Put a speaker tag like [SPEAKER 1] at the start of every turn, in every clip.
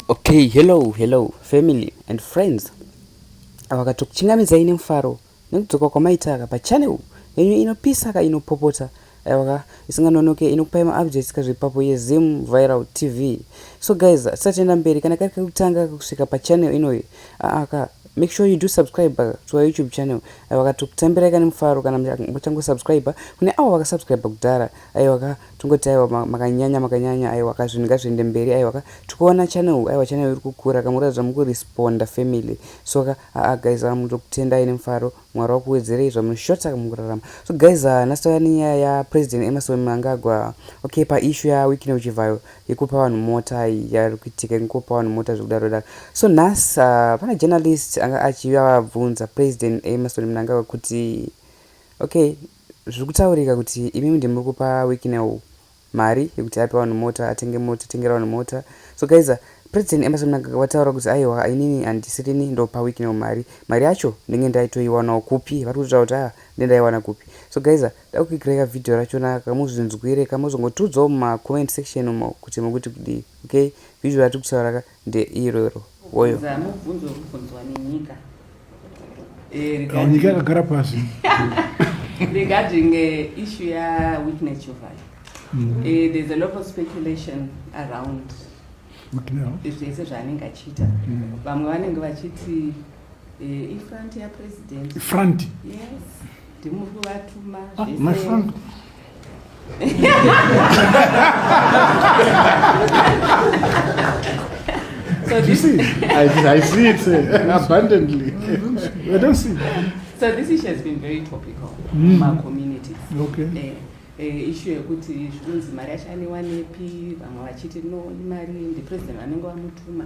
[SPEAKER 1] Okay, hello, hello, family and friends. Awakato kuchingamidzai nemufaro nekudzoka kwamaitaka pachannel yenyu inopisa ka inopopota aiwaka isinganonoke inokupai maupdates kazvepapo yezim viral tv so guys tisatenda mberi kana kari kekutanga kusvika pachannel inoyi aaka Make sure you do subscribe to our YouTube channel. Ayo vakatokutambira ika nemufaro kana muchango subscribe. Kune awo vaka subscribe kudhara. Ayo vaka tongoti ayo makanyanya makanyanya ayo vaka zvinhu ngazviende mberi ayo vaka tikuona channel ayo channel iri kukura kamuratidza muku responda family. So ka a guys amu ndokutendai nemufaro. Mwari wakuwedzerei zvamunoshota mukurarama. So guys, uh, nhasi tauya nenyaya ya President Emerson Mnangagwa. Okay, pa issue ya Wicknell Chivhayo yekupa vanhu mota yari kuitika yekupa vanhu mota zvekudaro daro. So nhasi uh, pana journalist anga achiuya vabvunza President Emerson Mnangagwa kuti okay, zviri kutaurika kuti imimi ndimuri kupa Wicknell mari yekuti ape vanhu mota atenge mota atengera vanhu mota so guys uh, president emerson mnangagwa vataura kuti aiwa inini handisirini ndopa week now mari mari yacho ndenge ndaitoiwanawo kupi vari kutaura kuti aa nde ndaiwana kupi so guys uh, dakukikirai kavhidhiyo rachona kamuzvinzwire kamozongotiudzawo mumacomment section umo kuti mukuti kudii okay vhidhiyo ratiri kutaura ka ndeiroro woyo Bvunza mubvunzo uri kubvunzwa
[SPEAKER 2] nenyika. Eh, Nyika
[SPEAKER 3] regarding- yakagara pasi.
[SPEAKER 2] regarding uh, issue ya witness Jovai. Eh, there's a lot of speculation around Witness. zvese zvaanenge achiita vamwe vanenge vachiti eh, ifront yapresident Front. yes ndimuri kuvatuma ah, so
[SPEAKER 3] you see, I,
[SPEAKER 2] I see
[SPEAKER 3] it uh, abundantly. I don't see. So this issue has
[SPEAKER 2] been very topical mm. my communities. Okay. Uh,
[SPEAKER 3] Eh, ishu
[SPEAKER 2] yekuti zvinonzi mari yacho anewanepi vamwe vachiti no imari ndipresident vanenge vamutuma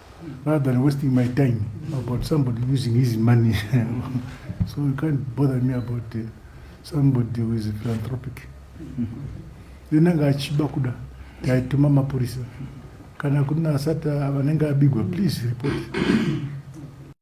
[SPEAKER 3] rather than wasting my time about somebody using his money so you can't bother me about uh, somebody who is a philanthropic then anga achiba kuda taituma mapurisa kana kuna asati vanenge abigwa please report